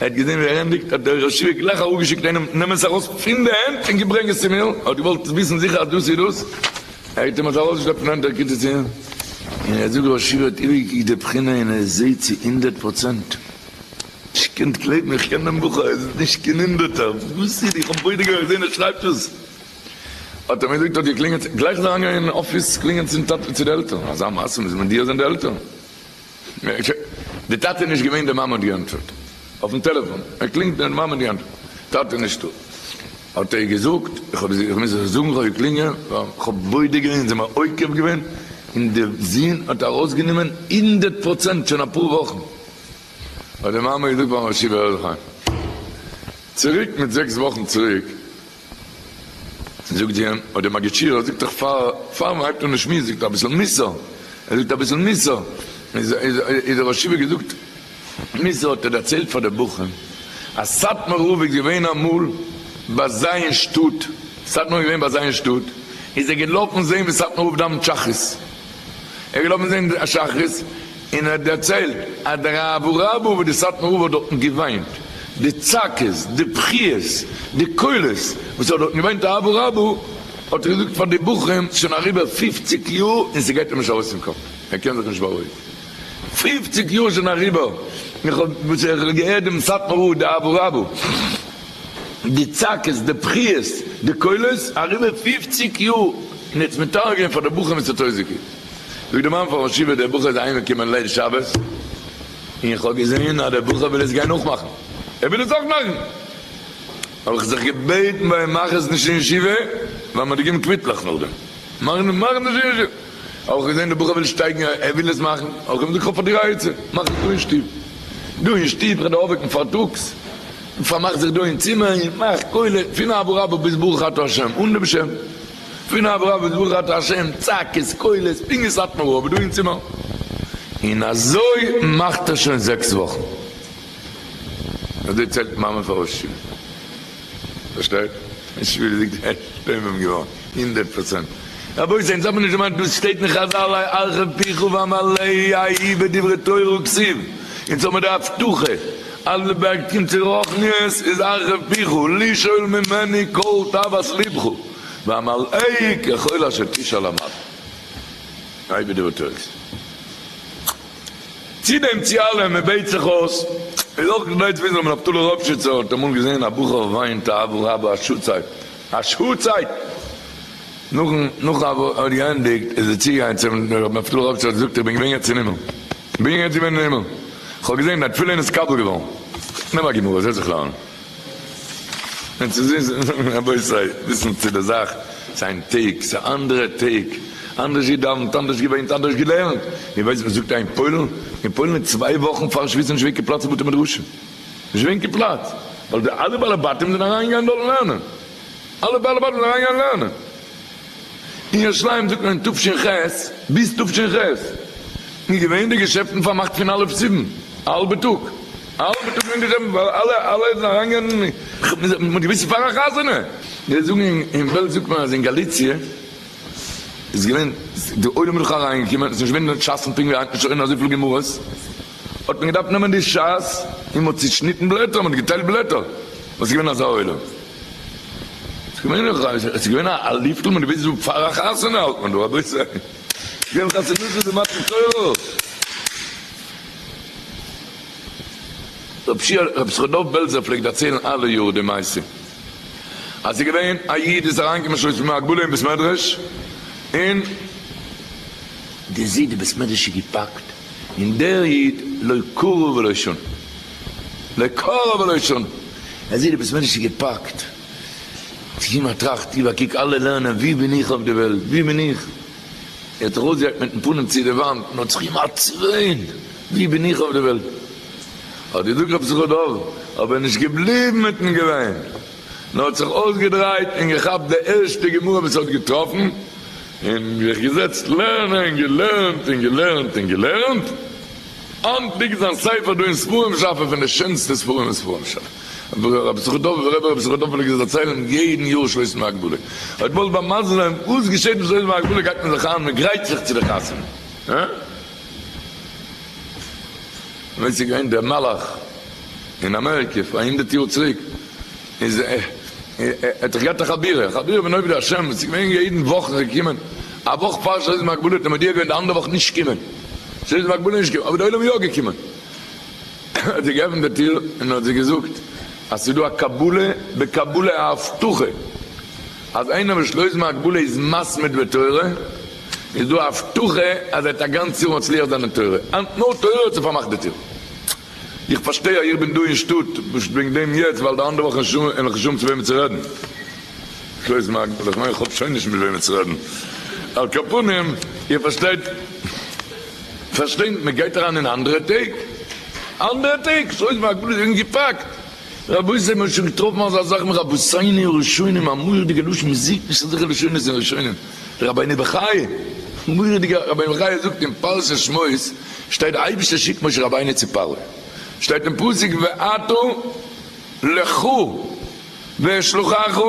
ער האט געזען ווי ער ענדיגט, האט דער רשע גלייך אראפגעשיקט איינעם, נעם עס ארויס פון די הענט און ברענג עס צו מיר, ער האט געוואלט וויסן זיכער אז דאס איז דאס, ער האט אים עס ארויסגעשלעפט פון הענט, ער קוקט עס אן, און ער זאגט, רשע האט איבערגעקוקט די בחינה און ער זעט צו הונדערט פראצענט, איך קען נישט גלייבן, איך קען דעם בחור, עס איז נישט קיין הונדערטער, וואס איז, איך האב בודק אויך געזען ער שרייבט עס, האט ער מיר געזאגט, האט געקלינגעט, גלייך איז ער אריינגעגאנגען אין אפיס קלינגען צום טאטע, צו די עלטערן, אזא מעשה מוז מיט דיר זיין די עלטערן. די טאטע נישט געווען די מאמע האט געענטפערט אויפן טעלעפאן ער קלינגט די מאמע האט געענטפערט טאטע נישטא האט ער געזאגט איך האב איך מוז זיך זאגן איך האב געקלינגען ווייל איך האב בודק געווען זיי האבן מיר עוקב געווען און די זון האט ארויסגענומען הונדערט פראצענט שוין אפאר וואכן האט די מאמע געזאגט פארן ראש ישיבה הערליך היי צוריק מיט זעקס וואכן צוריק זאָגט זי אים, אָט דער מאַגישיר, ער זאָגט דאָך, פֿאַר פֿאַר מע הײבט אָן די שמועס, זאָגט ער אַ ביסל מוסר. ער זאָגט אַ ביסל מוסר. איז, איז, איז ער אַ שבֿעה געזאָגט. מוסר האָט ער דערצײלט פֿאַר די בחורים, אַז סאַטמאַר רבֿ איז געװען אַ מאָל בײַ זײ אין שטאָט, סאַטמאַר איז געװען בײַ זײ אין שטאָט, איז ער געלאָפֿן זען װי סאַטמאַר רבֿ דאַװנט שחרית. ער איז געלאפן זען די שחרית און ער האט דערציילט אז די רב רבא וואס די סאטמאר רב האט דארטן געוויינט, די צעקות, די בכיות, די קולות וואס ער האט דארטן געוויינט די רב רבא האט ער געזאגט פאר די בחורים ס'איז שוין אריבער פֿופֿציק יאר און ס'גייט אים נישט ארויס פון קאפ, ער קען זיך נישט בארואיגן, פֿופֿציק יאר איז שוין אריבער וואס איך האב געהערט דעם סאטמאר רב די רב רבא. די צעקות, די בכיות, די קולות, אריבער פֿופֿציק יאר, און עטס מתאר געווען פאר די בחור מיט סאטויזיקי. זאגט די מאמע פאר ראש ישיבה, דער בחור איז אהיים געקומען ליל שבת, און איך האב געזעהן אז דער בחור וויל עס גיין נאכמאכן, ער וויל עס אויך מאכן, האב איך זיך געבעטן ביי אים מאך עס נישט אין ישיבה, ווייל מען האט געגעבן קוויטלעך נאכדעם, מאך עס נישט אין ישיבה, האב איך געזעהן דער בחור וויל שטייגן, ער וויל עס מאכן, האב איך אים געזאגט איך האב פאר דיר א עצה, מאך עס דא אין שטוב, דא אין שטוב, כדי אויפוועקן פארטאגס. און פארמאכט זיך דא אין צימער און מאכט קולות פון אבא רבא ביז ברוך אתה השם אן דעם שם, פון אבא רבא ביז ברוך אתה השם צעקות קולות פונקט ווי סאטמאר רב איז דא אין צימער, און אזוי מאכט ער שוין זעקס וואכן, אזוי צייגט מאמע פאר ר' שמעון, פארשטייט? ר' שמעון איז געווען שטומעם געווארן. הונדערט פראצענט. רבותי, אונז האבן נישט דערמאנט דאס שטייט אין חזל אי ארכה פיך ואמלא אי בדברי תורה וכסיל, אונז האבן די הבטחה אז לבערג קומט צו רוחניות איז ארכה פיך לשאול ממני כל תאוות לבך ואמלא אי ככל אשר תשאל אמלא אי בדברי תורה כסיל. צו דעם צו אלעם מען בעט זיך אויס איז אויך כדי צו וויסן רבי נפתלי ראפשיצער האט אמאל געזען א בחור וויינט אהבה רבה א שעה צייט, א שעה צייט נאכן נאכן האבן געענדיגט איז ער צוגעגאנגען צום רב מפתח האט ער געזאגט איך בין געווען יעצט אין הימל איך בין יעצט געווען אין הימל איך האב געזען דיין תפילין איז קבל געווארן נעם א גמרא זעץ זיך לערנען און צו זיס רבותי וויסן צו די זאך זיין טעג ס'איז אנדערע טעג אנדערש געדאווענט אנדערש געוויינט אנדערש געלערנט איר ווייסט וואס זאגט ער אין פוילן אין פוילן איז צוויי וואכן פארן שמועסן נישט ווערט געפלאצט בתי מדרשים. נישט געווען קיין פלאץ, ווייל די אלע בעלי בתים זענען אריינגעגאנגען דארט לערנען. אלע בעלי בתים זענען אריינגעגאנגען לערנען. אין ירושלים זאגט מען תשכ ח ביז תשכ ח איז געווען די געשעפטן פארמאכט פון א' סיוון א האלבע טאג. א האלבע טאג איז געווען געשעפטן ווייל אלע אלע זענען אריינגעגאנגען, מ'האט געוויסט פאר א חתונה. זיי זאגן אין בעלז זאגט מען אז אין גאליציע איז געווען די עולם איז דאך אריינגעקומען, עס איז נישט געווען די שאסן פונקט ווי היינט נישט אזויפיל גמרות. האט מען געדארפט נעמען די שס און מ'האט צושניטן בלעטער, מ'האט געטיילט בלעטער, וואס איז געווען אזא עולם? ס'איז געווען א, עס איז געווען א לופטל, מ'האט געוואוסט וואס פאר א חתונה האלט מען דא, רבותי! געווען חתונות וואס איז מתן תורות! רב שיע, רב ישכר דוב בעלזער פלעגט דערציילן אלע יאר די מעשה, אז ס'איז געווען א איד איז אריין געקומען שלא כסדרן א גדול אין בית מדרש, און די זיידע בית מדרש איז געפאקט, און דער איד לא קרא ולא שנה, לא קרא ולא שנה, ער זעט די בית מדרש איז געפאקט, צו ער טראכט איבער, קוק אלע לערנען, ווי בין איך אויף די וועלט, ווי בין איך, ער האט זיך אויסגעהאקט מיטן פנים צו די וואנט, און האט זיך אים עצבן, ווי בין איך אויף די וועלט, האט געזאגט רב שמחה דוב, אבער נישט געבליבן מיטן געוויין. און האט זיך אויסגעדרייט און געכאפט די ערשטע גמרא וואס ער האט געטראפן, און זיך געזעצט לערנען, געלערנט און געלערנט און געלערנט, היינט ליגט זיין ספר דא אין ספרים שאפע פון די שענסטע ספרים אין ספרים שאפע, ווי רבי סוכותדובער פלעגט עס דערציילן יעדן יאר שלושים להגבלה, אתמול ביי מזל'ן, וואס געשעט ביי שלושים להגבלה גייט מען זיך איין, מען גרייט זיך צו די חתונה, הא? ווען ס'איז געווען דער מלך אין אמעריקע פאר הונדערט יאר צוריק, איז ער האט דאך געהאט א חבירה, א חבירה פון עובדי השם, וואס איז געווען יעדן וואך איז ער געקומען, א וואך פאר שעות ומגבלה האט ער מודיע געווען די אנדערע וואך נישט קומען, שעות ומגבלה נישט קומען, אבער די עולם איז יא געקומען, האט זיי געעפנט די טיר און האט זיי געזאגט אז ס'איז דא א קבלה בקבלה א הבטחה אז איינער וואס שלויז ומגבלה איז מסמיד בתורה, איז דא א הבטחה אז ער וועט א גאנץ יאר מצליח זיין אין תורה, היינט נאר תורה האט זיך פארמאכט די טיר. איך פארשטיי אז איך בין דא אין שטאט פשוט וועגן דעם יעצט ווייל די אנדערע וואכן אין אין האב איך נישט צו וועמען צו רעדן, קלויז מארק, אדער איך מיין איך האב שוין נישט מיט וועמען צו רעדן, על כל פנים איר פארשטייט פארשטיי מען גייט אריין אין אנדערע טעג, אנדערע טעג, קלויז מארק, בלויז וועגן געפאקט. רבותי מ'האט שוין געטראפן אזא זאך אין רבותינו הראשונים א מורא'דיגע לשון מ'זעהט נישט אזעלכע לשונות אין ראשונים די רבינו בחיי מורא'דיגע רבינו בחיי זאגט אין פרשת שמות שטייט די אייבישטער שיקט משה רבינו צו פרעה שטייט אין פסוק ועתה לך ואשלחך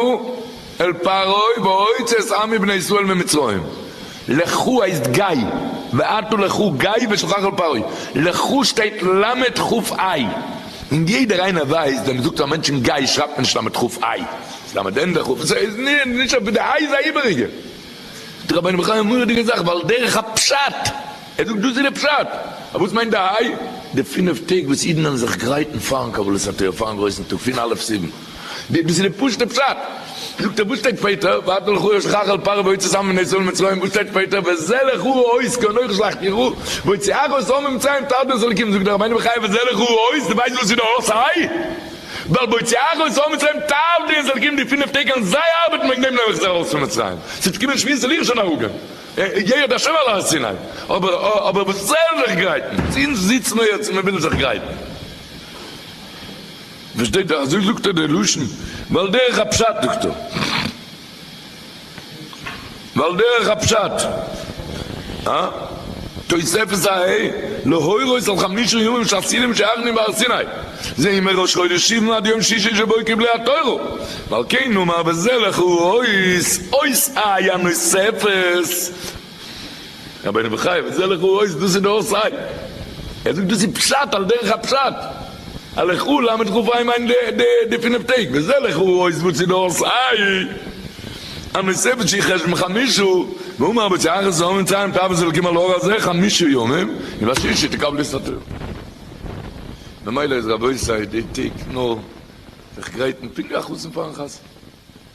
אל פרעה והוצא את עמי בני ישראל ממצרים לכו הייסט גיי ואתו לכו גיי ושלחך אל פרעה לכו שטייט למד ח א און יעדער איינער ווייסט ווען מ'זאגט פאר א מענטשן גיי שרייבט מען נישט למד ח א ס'איז למד ענדע ח א ס'איז איז נישט אויף די איי איז א איבעריגע זאגט רבינו בחיי א מורא'דיגע זאך ועל דרך הפשט ער זאגט דאס איז די פשט אבער וואס מיינט די איי די פינף טעג וואס אידן האבן זיך גרייטן פארן קבלת התורה פארן גרויסן טאג פון א' סיוון. די דאס איז די פשוטע פשט. זאגט ער וואס שטייט פייטער ואתו לך אויך שלח אל פרעה ויצא צאן בני ישראל ממצרים וואס שטייט פייטער וזה לך אורו אויס כי אנכי שלחתי יראו ויצא אח אויס אור ממצרים תחת דרך אלקים זאגט דער רבינו בחיי וזה לך אורו אויס די ווייסט וואס איז די אור סיי ווייל ויצא אח אויס אור ממצרים תחת דרך אלקים די פינעף טעג אן זיי ארבעטן וועגן דעם נעם איך זיי ארויס פון ממצרים ס'וועט קומען שביעית זאל איך שוין הרג'ען ירד השם על הר סיני אבער אבער וואס זיי זאלן זיך גרייטן זינט זינט נאר יעצט מ'וויל זיך גרייטן. פארשטייט זיך אזוי זאגט ער די לשון, ועל דרך הפשט זאגט ער, ועל דרך הפשט, אה? תוספת ע ה, להורות על חמשה ימים שעשיתם שערכנו בהר סיני, זה מראש חודש סיוון עד יום שישי שבו קיבלה התורה, ועל כן נאמר וזה לך הוא האות, האות א י נוספת, רבינו בחיי וואס איז א לכו אויס דאס איז דאך סיי ער זאגט דאס איז פשט על דרך הפשט א לכו ל מיט כף היי מיינט די פינף טעג וואס איז א לכו אויס דאס איז דאך סיי א מספר שי' חשבון חמישא ואומר אבער צו אחרי צאת מצרים טאר מען זיך לקום על הר הזה חמישא ימים און בשישי תקבלו את התורה ממילא איז רבותי די טעג נאר זיך גרייטן פונקט ווי א חתן פארן חתונה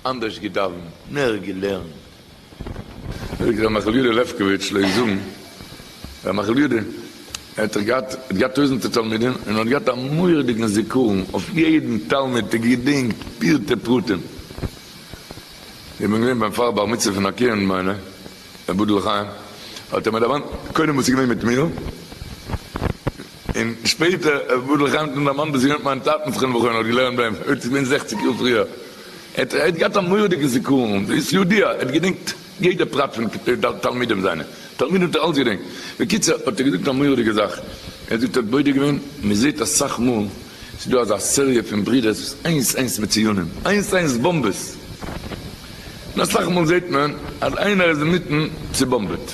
אנדערש געדאווענט מער געלערנט זאגט ר' מיכל יודא לעפקאוויטש לויט זאגן ר' מיכל יודא האט ער געהאט האט געהאט טויזענטער תלמידים און האט געהאט א מורא'דיגן זיכרון אויף יעדן תלמיד האט ער געדענקט פירטי פרטים איך בין געווען ביים פאר בר מצוה פון א קינד מיינע אבדול חיים האט ער מיר דערוואנט קודם וואס איז געווען מיט מיר. און שפעטער ער גדל חיים טון דער מאן וואס יונתן מיין טאטן זכרונו לברכה האט געלערנט ביים ער האט געווען זעכציק יאר פריער ער האט געהאט א מורא'דיגע זיכרון ווי ס'יודע ער האט געדענקט יעדע פרט פון תלמידים זיינע תלמידים האט ער אלץ געדענקט בקיצור האט ער געזאגט א מורא'דיגע זאך ער זאגט ער האט בודק געווען מען זעהט אסאך מאל ס'איז דא אזא סעריע פון ברידערס וואס איינס איינס מצוינים איינס איינס באמבעס און אסאך מאל זעהט מען אז איינער איז אינמיטן צובאמבעט.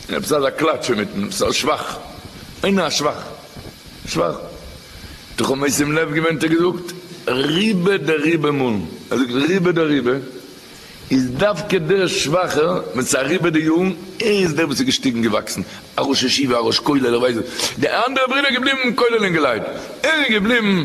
און עפעס אזא קלאטש אינמיטן, עפעס א שבח, אין א שבח, שבח, תחום מעשים לב געווען, עס האט געזאגט ריבה דריבה מאלן, ער זאגט ריבה דריבה, איז דווקא דער שבח'ער, ווען ס'איז אריבער די יארן, ער איז דער וואס איז געשטיגן געוואקסן, א ראש ישיבה, א ראש כולל, ער ווייסט וואס, די אנדערע ברודער געבליבן כוללים געלייט, ער איז געבליבן.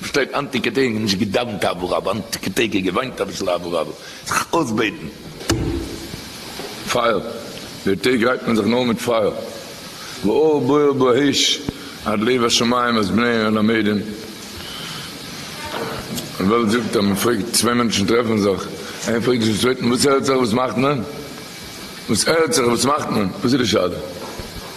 פארשטייט היינטיגע טעג נישט געדאווענט אבא רבא, היינטיגע טעג איז געוויינט אביסל אבא רבא, זיך אויסבעטן. פייער, די טעג רייבט מען זיך נאר מיט פייער, ואור בוער באש עד לב השמים אז בני הלמדים, די וועלט זאגט אז מען פרעגט, צוויי מענטשן טרעפן זיך, איינער פרעגט דאס צווייטן, וואס הערט זיך, וואס מאכט מען? וואס הערט זיך, וואס מאכט מען? וואס איז די שאלה?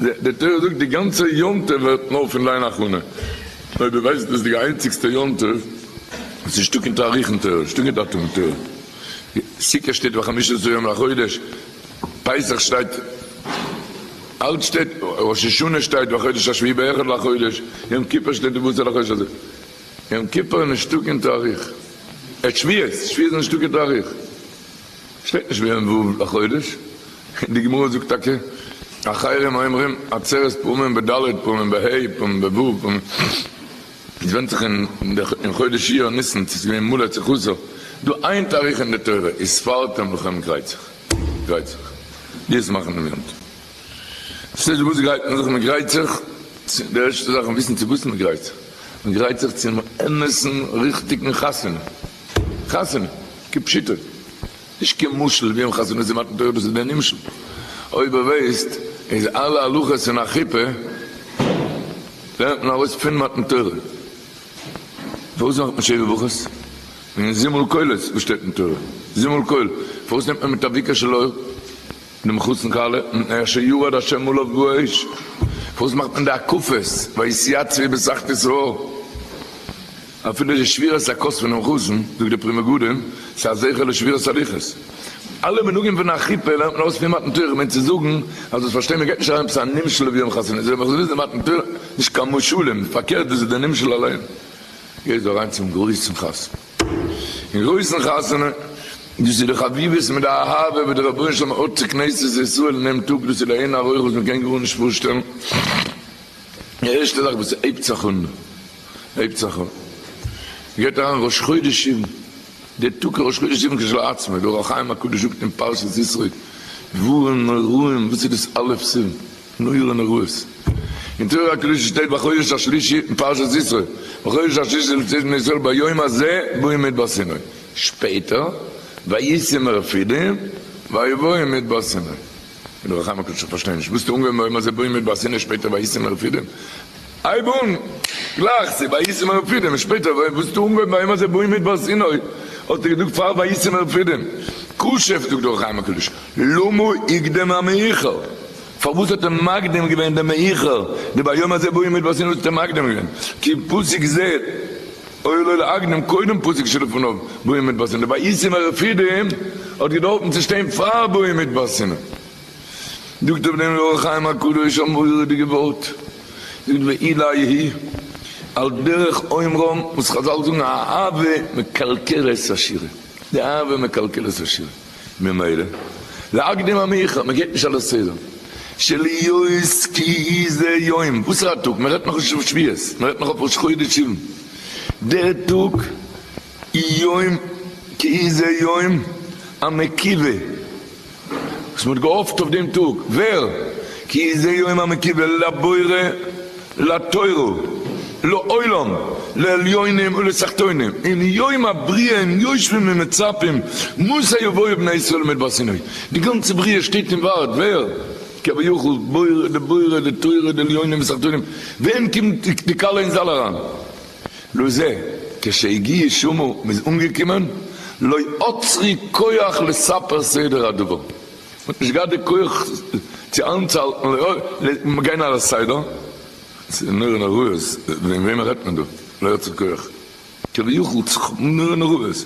די תורה זאגט די גאנצע יום טוב ווערט נאר פון דיין הכנה, אויב דו ווייסט דאס איז די איינציגסטע יום טוב וואס איז שטאק אין תאריכן תורה איז שטאק אין דאטומען תורה, סוכה שטייט וחמשה עשר יום לחודש, פסח שטייט אלץ שטייט, ראש השנה שטייט בחודש השביעי באחד לחודש, יום כיפור שטייט די בזה לחודש הזה, יום כיפור איז נישט שטאק אין תאריך, שביעית שביעית איז נישט שטאק אין תאריך. שטייט נישט ביהמ ו לחודש, און די גמרא זאגט טאקע אחרים אומרים עצרת פעמים ב ד פעמים ב ה פעמים ב ו פעמים עס ווענדט זיך אין חודש אייר ניסן צו עס איז געווען מלא צחותו דא איין תאריך אין די תורה איז ספרתם לכם גרייצעך גרייצעך די עס מאכן דעם יום טוב ס'איז נישט וואס גרייט מען זיך מען גרייט זיך צו די ערשטע זאך וויסן צו וואס מען גרייט זיך מען גרייט זיך צום אמת'ן ריכטיגן חתונה. חתונה, כפשוטו, נישט קיין משל ווי אן חתונה צו מתן תורה דאס איז דער נמשל, אויב איר ווייסט איז אלע הלכות אין א חופה לערנט מען ארויס פין מתן תורה, פארוואס מאכט מען שבע ברכות אין זימל קולות וואס שטייט אין תורה זימל קול, פארוואס נעמט מען מיט א ויקר של אור דעם חתן כלה מיטן אשר ירד השם עליו באש, פארוואס מאכט מען די הקפות ויתייצבי בסכת ישראל. אפילו די שבירת הכוס פונעם חזן, זאגט די פרי מגדים, איז א זכר לשבירת הלוחות. אלע מנהגים פון א חופה לערנט מען אויס פון מתן תורה, מ'מיינט צו זאגן אז דאס פארשטייט מען גייט נישט אריין עפעס א נמשל ווי יום חתונה, זיי מחזיר די מתן תורה, נישט קיין משלים, פארקערט דאס איז די נמשל אליין. גייסט דו אריין צום גרויסן חתונה, אין גרויסן חתונה, דאס איז די חביבות מיט די אהבה וואס די רבונו של עולם האט צו כנסת ישראל אין דעם טאג, דאס איז לאין ערוך וואס מ'קען גארנישט פארשטעלן, די ערשטע זאך וואס ס'הייבט זיך אן. הייבט זיך אן, גייט אריין ראש חודש סיוון, די טאג איז ראש חודש סיוון כשלעצמו, די אור החיים הקדוש זאגט אין פרשת ישרוי, דברים נוראים, וואס איז דאס א' סיוון? נורא נוראות. אין תורה הקדושה שטייט בחודש השלישי, אין פרשת ישרוי, בחודש השלישי לצאת בני ישראל ביום הזה באים מדבר סיני, שפעטער, ויצא מרפידים ויבואו מדבר סיני. די אור החיים הקדוש איך פארשטיי נישט, וואס טוט אנגיין ביום הזה באים מדבר סיני שפעטער ויצא מרפידים? הייב אן גלייך צו וישמח רפידים, און שפעטער ווען וואס טו אנגעהויבן ביי יום הזה בא אין מדבר סיני האט ער געזאגט פאר וישמח רפידים, כש זאגט דאך חיים הקדוש למה הקדים המאוחר, פארוואס האט ער מקדים געווען דעם מאוחר די ביי יום הזה בא אין מדבר סיני האט ער מקדים געווען כי פסוק ז אוי לו להקדים קודם פסוק שלפניו בא אין מדבר סיני די וישמח רפידים האט געדארפן צו שטיין פאר בא אין מדבר סיני. זאגט אויף דעם אור החיים הקדוש א מורא'דיגע ווארט, זאגט ואילה יהי' על דרך אומרם וואס חזל זאגן האהבה מקלקלת עשירה, די אהבה מקלקלת עשירה, ממילא להקדים המאוחר, מען גייט נישט על הסדר, שלהיות כי זה יום, וואסערע א טאג, מען רעדט נאך נישט אויף שביעות, מען רעדט נאך אויף ראש חודש סיוון, דער טאג איז יום כי זה יום המקיווה. וואס מען האט געהאפט אויף דעם טאג, ווער? כי זה יום המקובל לבורא לתורה לעולם לעליונים ולתחתונים, אין יום הבריאה און יושבים און מצפים מתי יבואו בני ישראל למדבר סיני, די גאנצע בריאה שטייט און ווארט, ווער? כביכול בורא דבורא דתורה דעליונים ותחתונים, ווען קומט די כלה אין זאל אריין? לא זה, כשהגיע שמו, מ'איז אנגעקומען, לא אוצרי כח לספר סדר הדבר, מ'האט נישט געהאט די כח צו איינצוהאלטן גיין על הסדר, ס'איז נורא נוראות, וועגן וועמען רעדט מען דא, לא אוצרי כח, כביכול צו כאפן נורא נוראות.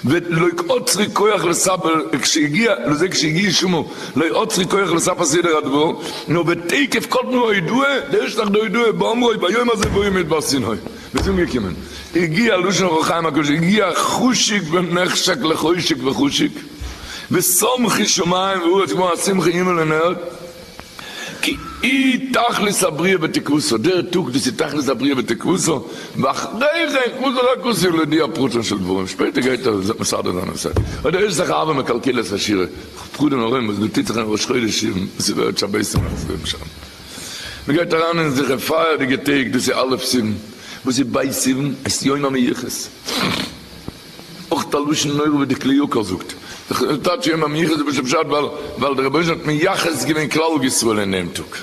ואת לא אוצרי כח לספר כשהגיע, לזה כשהגיע שמו, לא אוצרי כח לספר סדר הדבר, נאר בתוקף כל תנועה ידועה, דער ערשטער תחת הידועה באומרו ביום הזה ויום מדבר סיני, וואס איז אנגעקומען, הגיע לשון אור החיים הקדוש, הגיע חשק ונחשק לחשק וחשק, ושמחי שמים וארץ כמו השמחה הימל און ערד, כי היא תכלית הבריאה ותקוותו, דער טאג דאס איז תכלית הבריאה ותקוותו, ואחרי כן חזר הקדוש ברוך הוא לידיעה הפרטים של דברים, שפעטער גייט ער מסדר זיין הנושא, אוי דער עושה לך אהבה מקלקל את השירה, פחדן נוראים וואס דא טוט זיך אין ראש חודש סיוון, וואס איז ווערט שבת און נאכט ווערט משעמם, מען גייט אריין אין זיכער פייערדיגע טעג, דאס איז א' סיוון, וואס איז ב' סיוון? עס איז יום המיוחס. אויך א לשון נורא ווי די כלי יקר זאגט זיך אין טייטש יום המיוחס וואס איז פשט ווייל ווייל די רבונו של עולם האט מייחס געווען כלל ישראל אין דעם טאג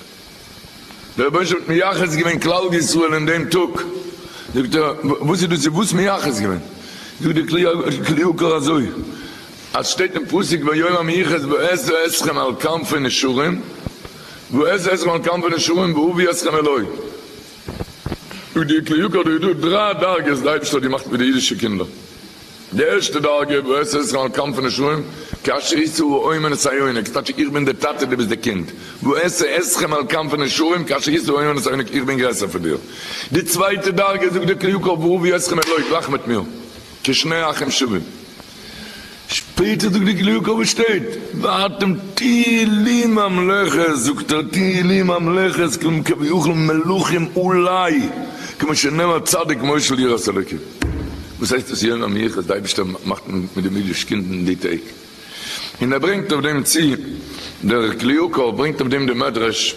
די רבונו של עולם האט מייחס געווען כלל ישראל אין דעם טאג זאגט ער וואס איז דאס איז וואס מייחס געווען זאגט די כלי יקר אזוי אז שטייט אין פסוק ביום המיוחס ואעשה אתכם על כנפי נשרים ואעשה אתכם על כנפי נשרים ואביא אתכם אלי. דא די כלי יוקר דא איז דא דריי דרגות די אייבישטער האט געמאכט מיט די אידישע קינדער די ערשטע דרגה ואת ישראל כנף נשרים כאשר יצאו האומר נסיונק ס'טייטש איך בין די טאטע די ביסט די קינד ואת אתכם על כנף נשרים כאשר יצאו האומר נסיונק איך בין גרעסער פון דיר די צווייטע דרגה זאגט די כלי יוקר ואהבי אתכם אלוהי גלייך מיט מיר כשני אחים שווים שפעטער זאגט די קלוגע קאווע שטייט ואתם תהילים ממלכת זאגט ער תהילים ממלכת כלומר כביכול מלכים אולי כמו שנאמר צדיק מושל יראת אלוקים וואס הייסט עס יום המיוחס די אייבישטער מאכט מיט די אידיש קינד אין די טעג אין ער ברענגט אויף דעם צו דער קליוקער ברענגט אויף דעם די מדרש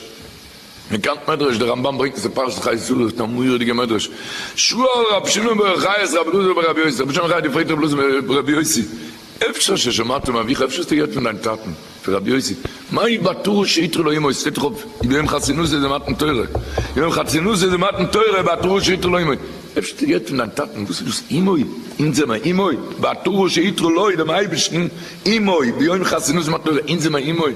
מען קאנט מדרש די רמבם ברענגט עס אין פרשת חיי שרה אויף א מורא'דיגע מדרש שואל רבי שמעון בר יוחאי את רבי אלעזר בן רבי יוסי רבי שמעון בר יוחאי האט געפרעגט רבי אלעזר בן רבי יוסי אפשר ששמעת מאביך אפשר האסטו געהערט פון דיין טאטן פון רבי יוסי מהאי בתרא שהיתרו לו ימות שטייט דאך אויף יום חתונות איז די מתן תורה יום חתונות איז די מתן תורה בתרא שהיתרו לו ימות אפשר האסטו געהערט פון דיין טאטן וואס איז דאס ימות אונז זעמער ימות בתרא שהיתרו לו דעם אייבערשטן ימות ביום חתונות מתן תורה אונז זעמער ימות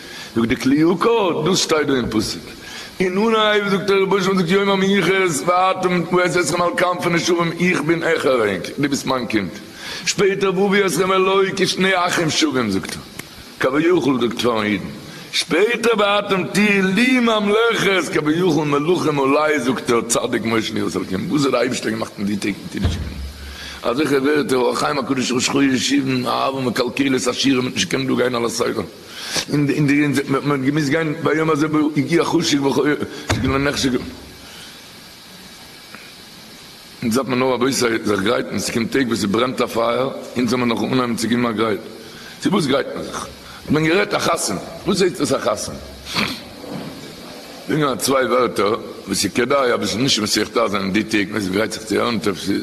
זאגט די כלי יקר, דאס שטייט דא אין פסוק, אין אנהייב זאגט דער רבוש ע זאגט יום המנוחות ואתם ואת אתכם על כנפי נשרים איך בין אייך אריינק דו ביסט מיין קינד, שפעטער ואביא אתכם אלי כשני אחים שווים זאגט ער כביכול זאגט פארן אידן, שפעטער ואתם תהיו לי ממלכות כביכול מלכים עלי זאגט ער צדיק מאיר שניאורס אלקים וואס האט די אייבערשטער געמאכט אין די טעג פון קידוש ימינו אזעלכע ווערטער אור החיים הקדוש ראש חודש סיוון אהבה מקלקלת עשירים מיט נישט קענען דא גיין על הסדר. אין די אין מען האט געמוזט גיין ביום הזה בו הגיע חשק וכו' שכן לא נחשק אונז דארף מען נאר אבי זיך גרייטן ס'קומט טעג וואס ס'ברענט א פייער אונז זאל מען נאך אנהייבן צו גיבן א גרייט צו וואס גרייט מען זיך האט מען גערעדט א חתונה וואס הייסט דאס א חתונה זאגן א צוויי ווערטער וואס ס'כדאי אביסל נישט מסכת אזען אין די טעג מען גרייט זיך צו הערן טוב צו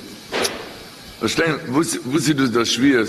פארשטיין וואס איז דאס דער שביעות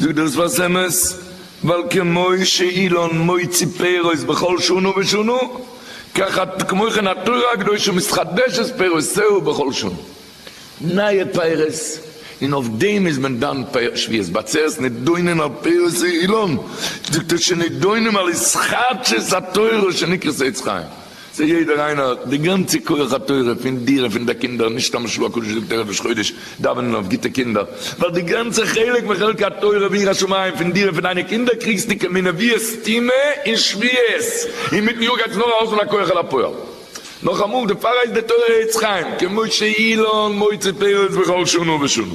דו דאס וואס אמת, ווייל כמו שאילן מוציא פירות בכל שנה ושנה, כך כמו כן התורה הקדושה מתחדשת פירותיה בכל שנה. נייע פירות, און אויף דעם איז מען דן שביעות בעצרת נידונים על פירות אילן, זאגט ער שנדונים על התחדשות התורה שנקראת עץ חיים, זיי יעדער איינער האט די גאנצע כח התורה פון דיר און פון די קינדער, נישט סתם משהו הקדוש זאגט ערב ראש חודש דאווענען אויף גוטע קינדער, ווייל די גאנצע חלק מחלקי התורה ויראת שמים פון דיר און פון דיינע קינדער קריגסטו כמנביאי סתימה און שביעות, און מיטן יאר גייט עס נאר האלפן הכח אל הפועל. נאכאמאל, דערפאר הייסט די תורה עץ חיים, כמו שאילן מוציא פירות בכל שנה ושנה.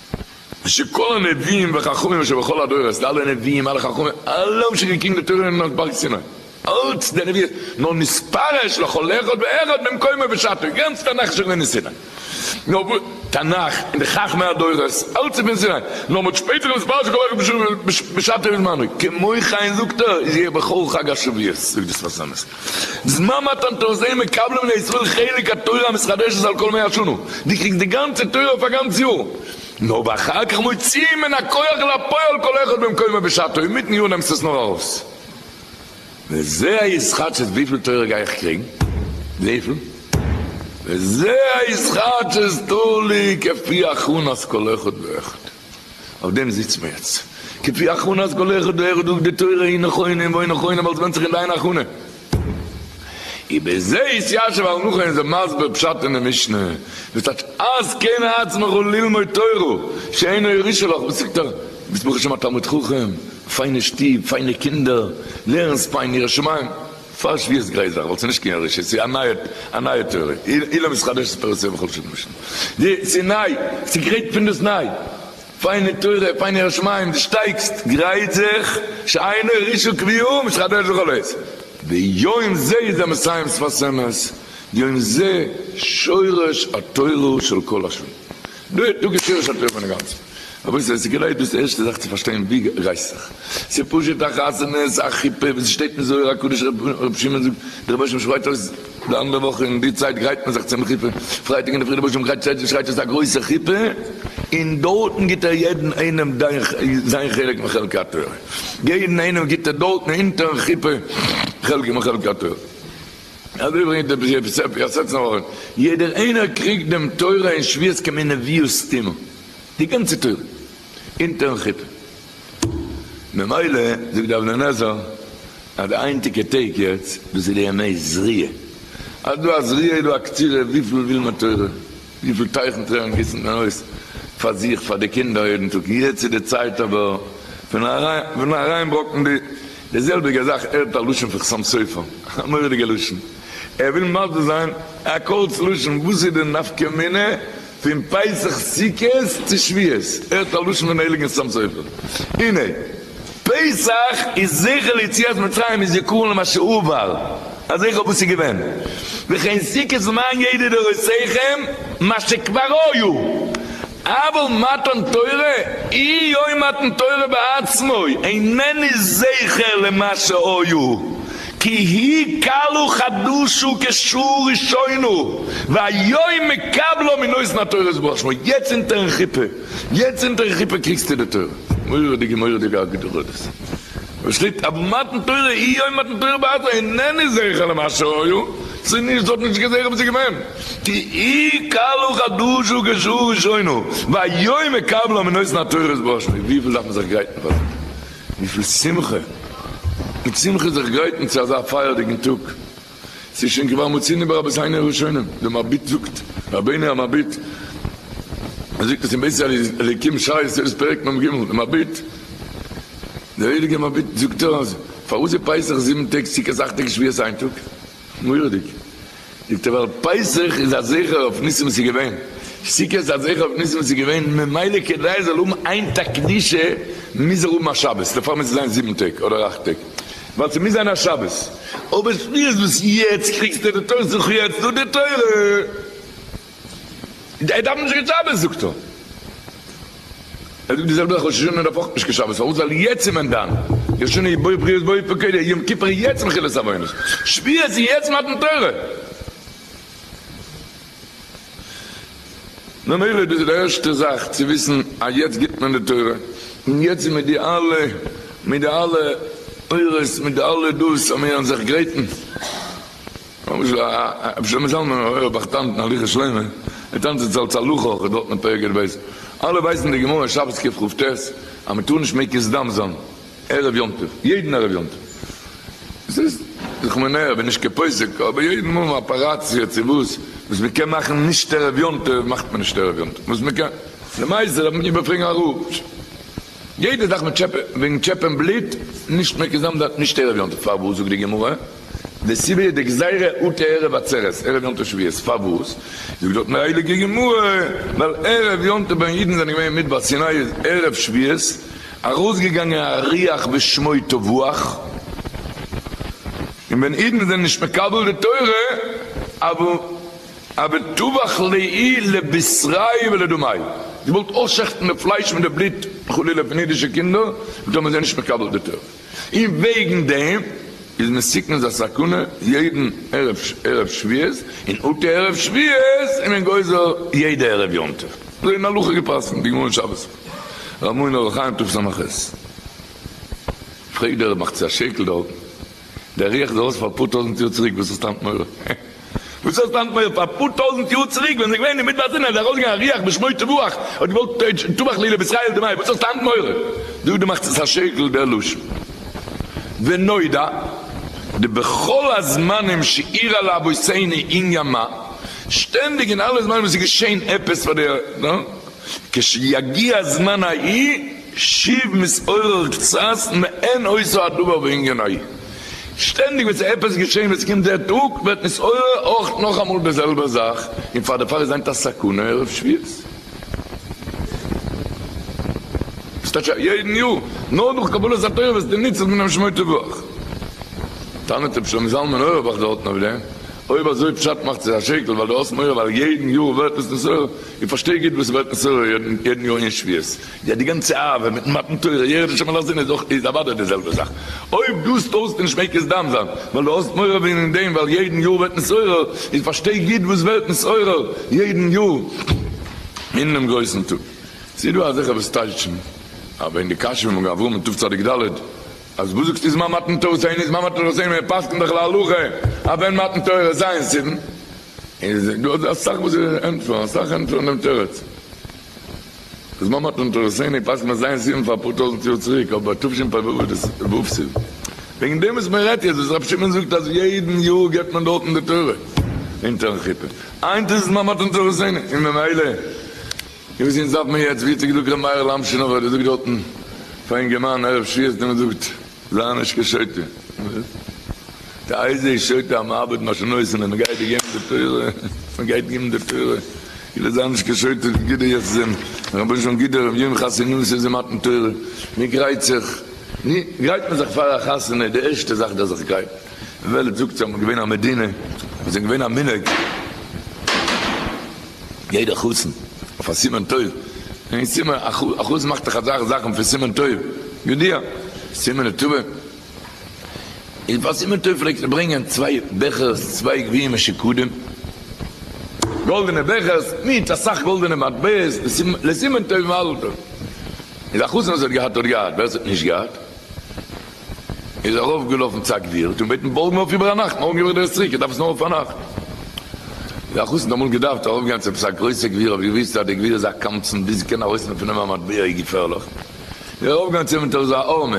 שכל הנביאים וחכמים אשר בכל הדורות, די אלע נביאים אלע חכמים אלע האבן שוין געקריגט די תורה אויבן אויף בארג סיני, אלץ די נביאות, נאר נספר אש לכל אחד ואחד במקומו ובשעתו, גאנץ תנך איז שוין געווען אין סיני, נאר וואס תנך און די חכמי הדורות אלץ איז פון סיני, נאר מ'האט שפעטער נספר שכל אחד בשעתו ובזמנו, כמו כן זאגט ער, יהיה בכל חג השבועות, זאגט דאס פאר'ס אמת, זמן מתן תורה זיי מקבל מן הישראל חלק התורה המתחדשת על כל מאה שנה, די קריגסט די גאנצע תורה אויף א גאנץ יאר, נאר אחר כך מוציאים מן הכח אל הפועל כל אחד במקומו בשעתו אין מיטן יאר נעמסט עס נאר ארויס, וזה ההתחדשות וויפיל תורה גיי איך קריגן? וויפיל? וזה ההתחדשות תלי' כפי הכנת כל אחד ואחד. אויף דעם זיצן מיר יעצט. כפי הכנת גליך דהערה דוק דתורה אין נכונים ואין נכונים אלס ווענדט זיך אין דיין הכנה. איבער זה התיישב אל נח אין זיין מסביר פשט אין די משנה וואס טייטש אז כן עצמך ללמוד תורה שאינו ירושה לך בסוכתך ביסט ברוך השם א תלמיד חכם פיינע שטוב פיינע קינדער לערנסט פיין ירא שמים. פאר שביעות גרייזאך ווייל ס'נישט קיין ירושה, ס'איז א נייע א נייע תורה, אילן מתחדש את תורתו בכל שנה ושנה, די ס'איז ניי, ס'גרייט פונדאסניי, פיינע תורה, פיינע ירא שמים, די שטייגסט, גרייט זיך, שיינער רישא קביעא מתחדש בכל עת, ביום זה איז דער מסיים שפת אמת, יום זה שורש התורה של כל השנים, דא איז דא געשען שוין טרעפן אינגאנצן. רבותי עס איז גענוי דאס ערשטע זאך צו פארשטיין ווי רייסט זיך. עס איז פשוט א חתונה עס איז א חופה ווי עס שטייט אין זוהר הקדוש ר' שמעון זאגט די רבושם שרייט אויס די אנדערע וואך אין די צייט גרייט מען זיך צום חופה פרייטאג אינדערפרי די רבושם גרייט שטייט שרייט אויס א גרויסע חופה און דארטן גיבט ער יעדן איינעם זיין חלק מחלקי התורה יעדן איינעם גיבט ער דארטן אונטערן חופה חלק מחלקי התורה. אזוי ברענגט דער בריוו ספר יסצנו אהרן, יעדער איינער קריגט דעם תורה אין שביעות כמינוביוס סטימא, די גאנצע תורה, אונטערן כיפה. ממילא זאגט דער אבן עזר אז די היינטיגע טעג יעצט, דאס איז די ימי זריעה, אז דא א זריעה איז דא א קצירה, וויפיל וויל מען תורה, וויפיל טייכן טרערן גיסן מען אויס פאר זיך, פאר די קינדער יעדן טאג, יעצט איז די צייט אבער פון אריינברקן די. די זעלביגע זאך ער האט א לשון פון חתם סופר, א מורא'דיגע לשון, ער וויל מסביר זיין א קורץ לשון וואס איז די נפקא מינה פון פסח סוכות צו שביעות, ער האט א לשון פון הייליגן חתם סופר, הנה פסח איז זכר ליציאת מצרים איז זיכרון למה שעבר א זכר וואס איז געווען, וכן סוכות למען ידע דורותיכם מה שכבר היו אבל מתן תורה אי יוי מתן תורה בעצמו אינני זכר למה שהיו כי הי' כלו חדשו כשו ראשונו והיוי מקבלו מן אוזן התורה יתברך שמו יעצט אינטערן חופה יעצט אינטערן חופה קריגסטו די תורה מורא'דיגע מורא'דיגע אגדורה'דאס וואס שטייט אבל מתן תורה אי יוי מתן תורה בעצמו אינני זכר למה שהיו ס'איז נישט דארט נישט געזעכער וואס איז געווען. כי אי קלו חדשו גזרו ראשונו והיום מקבלא מן אוזן התורות בראש מי וויפיל דארף מען זיך גרייטן פאר דעם? וויפיל שמחה מיט שמחה זיך גרייטן צו אזא פייערדיגן טאג ס'איז שוין כבר מוצאין ברבות היינו ראשונים די מביט זאגט רבינו המביט ער זאגט עס אין בית אליקים שער יסוד פרק מ ג די מביט די הייליגע מביט זאגט אז פארוואס איז פסח זיבן טעג סוכות אכט טעג שביעות איין טאג? מורא'דיג. זאגט ער ווייל פסח איז א זכר אויף ניסים וואס איז געווען, סוכות איז א זכר אויף ניסים וואס איז געווען, ממילא כדי עס זאל האבן איין טאג קדושה מוז ער האבן א שבת, דערפאר מוז עס זיין זיבן טעג אדער אכט טעג, ווייל ס'מוז זיין א שבת. אבער שטויות וואס יעצט קריגסטו די תורה זיך יעצט דא די תורה. ער דארף נישט קיין שבת זאגט ער. ער זאגט די זעלבע אויף ראש השנה און אויף אויך נישט קיין שבת פארוואס ווייל יעצט איז מען דן ראש השנה איז בו בריות בו פקודי יום כיפור איז יעצט מחילת עוונות שביעית איז יעצט מתן תורה ממילא דאס איז די ערשטע זאך צו וויסן אז יעצט גיט מען די תורה און יעצט איז מיט די אלע מיט די אלע אורות מיט די אלע דאס אז מיר זענען זיך גרייטן. למשל א רבי שלמה זלמן אויערבאך טאנצן הליכות שלמה, ער טאנצט עס אלס הלכה אויך דארט אין פרק ע ב, אלע ווייסן די גמרא שבת ק ח ט אז מען טאר נישט מקיז דם זיין ערב יום טוב, יעדן ערב יום טוב, עס איז זיך מיר נער כ'בין נישט קיין פוסק אבער יעדן מאל אפעראציע צו וואס וואס מען קען מאכן נישט ערב יום טוב מאכט מען נישט ערב יום טוב וואס מען קען למעשה דארף מען איבער פרעגן א רב יעדע זאך מיט טשעפען וועגן טשעפען בלוט נישט מקיז דם זיין נישט ערב יום טוב פארוואס זאגט די גמרא. די סיבה איז די גזירה אט ערב עצרת, ערב יום טוב שביעית, פארוואס? זאגט דארט די הייליגע גמרא, ווייל ערב יום טוב ווען אידן זענען געווען אין מדבר סיני איז ערב שביעית ארויסגעגאנגען א ריח בשמו תבואה, און ווען אידן זענען נישט מקבל די תורה אווי אווי טבח לאי לבשרי ולדמי, געוואלט אויסשעכטן די פלייש מיט די בלוט חלילה פון אידישע קינדער, און טאמער זיי זענען נישט מקבל די תורה. און וועגן דעם איז מסוכנ'ס א סכנה יעדן ערב שביעית, און אטע ערב שביעית איז מען גוזר יעדע ערב יום טוב, אזוי אין הלכה געפסקנט, די גמרא אין שבת, ר' מוהר ן אור החיים תרפ ס עמ' ח'. פרעגט דער רב מאכט זיך א שעקל דארטן, דער ריח איז ארויס פאר אפאר טויזנט יאר צוריק, וואס האסטו היינט מורא? וואס האסטו היינט מעורר? פאר אפאר טויזענט יאר צוריק ווען עס איז געווען אין מדבר סיני איז ארויסגעגאנגען א רוח בשמו תבוח האט געוואלט טובח לי לבשרי דמי וואס האסטו היינט מעורר? דא דו מאכסט עס א שקר דער לשון ונודע די בכל הזמנים שאירע לאבותינו אין ימא שטענדיג אין אלע זמנים וואס איז געשעהן עפעס פאר די כש יגיע זמן ההיא שיב מתעורר קצת מען עושה הדבר בענגן עי. שטענדיג ווען ס'איז עפעס געשען ווען ס'קומט דער טאג ווערט מתעורר אויך נאכאמאל דער זעלבער זאך און פאר דערפאר איז היינט א סכנה ערב שביעות. וואס טייטש א יעדן יאר? נאר דורך קבלת התורה וועסטו ניצל פונעם שמור תבורך? טענה'ט רבי שלמה זלמן אויערבאך דארטן אויף דעם, אויב אזוי פשט מאכט זיך א שקל ווייל דו האסט מורא ווייל יעדן יאר ווערט עס נתעורר, איך פארשטיי גוט וואס ס'ווערט נתעורר יעדן יאר אין שביעות. יא די גאנצע אהבה מיטן מתן תורה יראת השם אל האזין איז אוודאי די זעלבע זאך, אויב דו טוסט נישט מעג עס דיין זיין ווייל דו האסט מורא וועגן דעם ווייל יעדן יאר ווערט נתעורר, איז פארשטיי גוט וואס ווערט נתעורר יעדן יאר אינעם גרויסן טאג, ס'איז דא אזעלכע וואס טייטשן אז וועגן די קשיא פון מגן אברהם אין תו' צדיק ד' אז וואס זאגסטו זמן מתן תורתינו איז זמן מתן תורתינו מען פסק'נט דאך להלכה אז ווען מתן תורה ז' סיוון איז דא אסאך וואס ענטפערן אסאך ענטפערן דעם תירוץ זמן מעט און תורת עיני פסק'נט מען זיין סיום פאר אפאר טויזענט יאר צוריק אבער תשפ ו וואס דאס וואס ס'איז וועגן דעם וואס מען רעדט יעצט וואס רבי שמעון זאגט אז יעדן יאר געבט מען דארטן די תורה אונטערן חופה היינט איז עס זמן מעט און תורת עיני און ממילא איז וואס אונז דארף מען יעצט ווי האט זיך געזאגט רבי מאיר'ל אמשינאווער דער זאגט דארטן פאר אינגערמאן ערב ש ס דער מ'זאגט. זיי נישט קיין שוטה. וואס? די אייזע איז שוטה אז מ'ארבעט משנות און אז מ'גייט דיר געבן די תורה, מ'גייט געבן די תורה, כאילו זיי נישט קיין שוטה, גיב דיר יעצט זין, רבונו של עולם גיב דיר יום חתונמי ס'איז די מתן תורה, מי גרייט זיך, ווי גרייט מען זיך פאר א חתונה, די ערשטע זאך דארף זיך גרייטן, וועלט זאגט ס'אמאל געווען א מדינה, וואס איז געווען א מנהג. יעדער חתן אויף א סימן טוב, אין סימן א חתן מאכט דאך אזאלכע זאכן פון סימן טוב, יודיע, סימן לטובה, איז פאר סימן טוב פלעגט ער ברענגען צוויי בעכערס, צוויי גביעים מיט שקדים, גאלדענע בעכערס מיט אסאך גאלדענע מטבעות, לסימן טוב ומזל טוב, איז א חתן וואס האט געהאט האט געהאט, ווער עס האט נישט געהאט. איז ארויפגעלאפן צו א גביר, האט אים געבעטן בארגן אויף איבער א נאכט, מארגן געב איך דיר עס צוריק, איך דארף עס נאר פארנאכט. דער אחוז האט אמאל געדארפט ארויפגיין צו עפעס א גרויסע גביר, האט געוואוסט אז דער גביר איז א קמצן, ביז קען ארויסנעמען פון אים א מטבע איז געפערליך, איז ער ארויפגעגאנגען צו אים מיט אזא ארמע,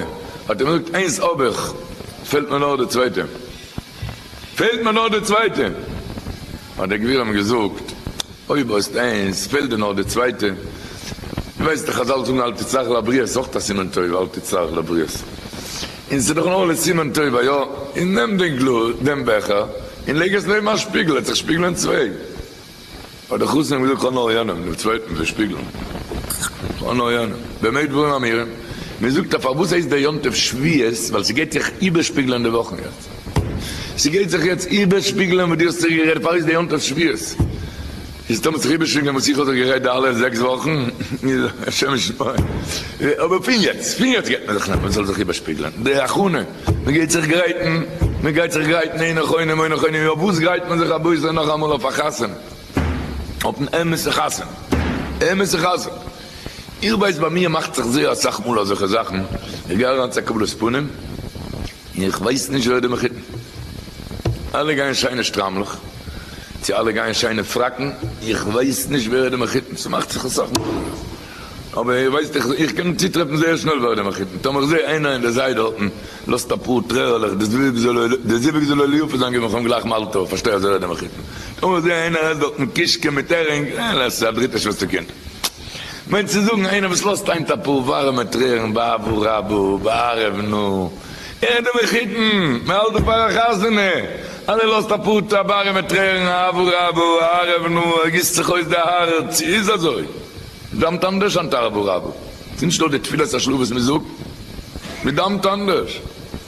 האט ער אים געזאגט, איינס האב איך, פעלט מיר נאר די צווייטע, פעלט מיר נאר די צווייטע, האט דער גביר אים געזאגט, אויב האסט איינס פעלט דיר נאך די צווייטע. דו ווייסט דאך חזל זאגן אל תצטרך לבריות איז אויך א סימן טוב אל תצטרך לבריות. און ס'איז דאך נאר לסימן טוב א יא. און נעם דעם גלאז, דעם בעכער, און לייג עס נעבן א שפיגל העט זיך שפיגלען צוויי. האט דער חתן אים געזאגט כאנאר יענעם, דעם צווייטן, ווען שפיגלן. כאנאר יענעם. במה דברים אמורים? מ'זאגט אז פארוואס הייסט דער יום טוב שביעית? ווייל ס'גייט זיך איבערשפיגלען די וואכן יעצט. ס'גייט זיך יעצט איבערשפיגלען וואס דו האסט זיך גערעדט פאראויס די יום טוב שבועות. איז טאמער ס'זיך איבערשפיגלען וואס איך האב זיך גערעדט די אלע זעקס וואכן, איז השם ישמור. אבער פון יעצט, פון יעצט גייט מען זיך נעמען ס'זאל זיך איבערשפיגלען די הכנה, מ'גייט זיך גרייטן, מ'גייט זיך גרייטן אין נכונים אוי נכונים, אויף וואס גרייט מען זיך אביסל נאכאמאל אויף א חתונה, אויפן אמת'ע חתונה, אמת'ע חתונה. איך ווייס ביי מיר מאכט זיך זייער אסאך מאל אזעלכע זאכן, איך גיי אריין צו א קבלת פנים, איך ווייס נישט ווער די מחותן. אלע גייען שיינע שטריימלעך, צו אלע גייען שיינע פראקן, איך ווייס נישט ווער די מחותן, ס'מאכט זיך אסאך מחותנים, אבער איר ווייסט איך איך קען צוטרעפן זייער שנעל ווער די מחותן, טאמער איך זע איינער אין די זיי דארטן לאזט אפאר טרערעלעך די זווג זאל איר די זיווג זאל איר ליופי זיין געבן איך אים גלייך מזל טוב פארשטיי אז ער איז די מחותן, טאמער איך זע איינער עסט דארטן קישקע מיט הערינג, אה ל ס א דריטע שוועסטער קינד. מיינט צו זאגן איינער וואס לאזט היינט אפאר ווארעמע טרערן בעבור רבו בערב נא ער די מחותן מען האלט דא פאר א חתונה אז ער לאזט אפאר ווארעמע טרערן עבור רבו ערב נא ער גיסט זיך אויס די הארץ צו איז אזוי מדאמט אנדערש אנטער עבור רבו ס'איז נישט נאר די תפילת השלו' וואס מען זאגט מדאמט אנדערש.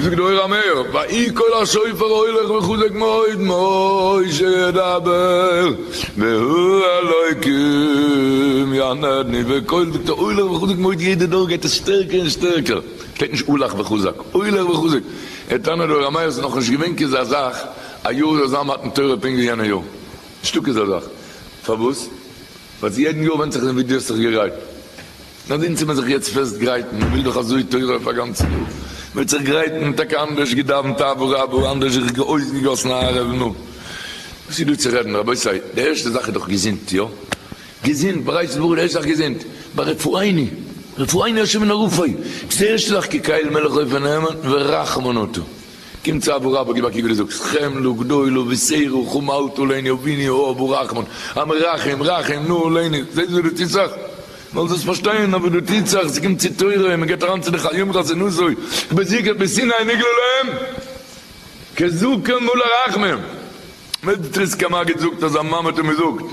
זאגט דער אור המאיר, ויהי קול השופר הולך וחוזק מאוד משה ידבר והוא אלוקים יענני וקול זאגט ער הולך וחוזק מאוד יעדע דור גייט עס שטערקער און שטערקער שטייט נישט הולך וחוזק הולך וחוזק ער טענה'ט דער אור המאיר ס'איז נאכנישט געווען כזה זאך א יאר זאל זיין מתן תורה פונקט ווי יענע יאר נישטא כזה זאך פארוואס? ווייל צו יעדן יאר ווענדט זיך ווי דו האסט זיך געגרייט נאר דין צו מען זיך יעצט פעסט גרייטן, מען וויל דאך אזוי תורה אויף א גאנצע יאר, מען וועט זיך גרייטן, טאקע אנדערש געדאווענט אבא רבא, אנדערש זיך אויסגעגאסן א ערב, נו וואס איז דא צו רעדן רבותי, די ערשטע זאך איז דאך געזונט, יא? געזונט, ברייט און ברור, די ערשטע זאך געזונט, ברפאיני, רפאיני השם מן הרפא, דאס איז די ערשטע זאך, כקהל מלך אויפן העמד ורחמנותא, קום צו אבא רבא, גיב א קוק ווי דו זאגסט, חם לו גדולו ושעירו חם אל תוליני אביני האב רחמנ, המרחם, רחם, נא אלינו, זעסט ווי דו טוסט זיך? זאלסט דאס פארשטיין, אבער דא טוט זיך, ס'קומט צו תורה און מ'געט אריין צו די חיי אומרות און אזוי, ובזיקת בסיני נגלו להם כזקן מלא רחמים, מ'טריסקע האט מגיד זאגט אז א מאמע האט אים געזאגט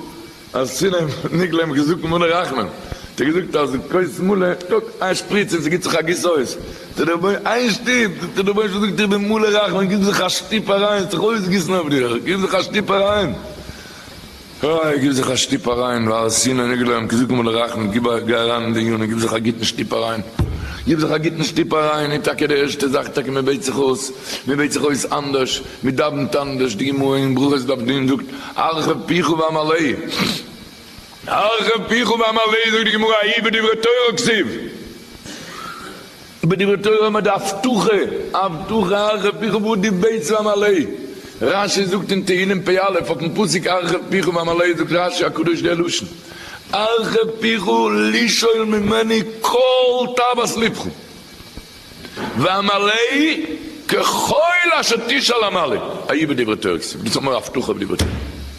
אז סיני נגלה להם כזקן מלא רחמים, האט ער געזאגט אז כוס מלא, קוק איין שפריץ און ס'גיט זיך א גוס אויס, זאגט דער רבי, איין שטופ, זאגט דער רבונו של עולם זאגט איך בין מלא רחמים, גיב זיך א שטופ אריין, ס'זאל זיך אויסגיסן אויף דיר, גיב זיך א שטופ אריין. אוי, גיב זיך א שטופ אריין, והר סיני נגלה ים כזקן ולרחמי, גיב א, גיי אריין אין די ענינים, גיב זיך א גוטן שטופ אריין, גיב זיך א גוטן שטופ אריין, און טאקע די ערשטע זאך, טאקע מען בעט זיך אויס, מען בעט זיך אויס אנדערש, מען דאווענט אנדערש, די גמרא אין ברכות דף ג זאגט, הרחב פיך ואמלא, הרחב פיך ואמלא זאגט די גמרא, אי בדברי תורה כסיב. איבער דברי תורה האבן מיר די הבטחה, הבטחה הרחב פיך ועדי בית ועמלא, רש י זאגט אין תהילים פ' א' אויפן פסוק הרחב פיך ועמלא זאגט רש י הקדוש דער לשון הרחב פיך לשאול ממני כל תאוות לבך, ועמלא ככל אשר תשאל עמלא, א י בדברי תורה כסוף, דאס האט מיר א הבטחה אויף דברי תורה.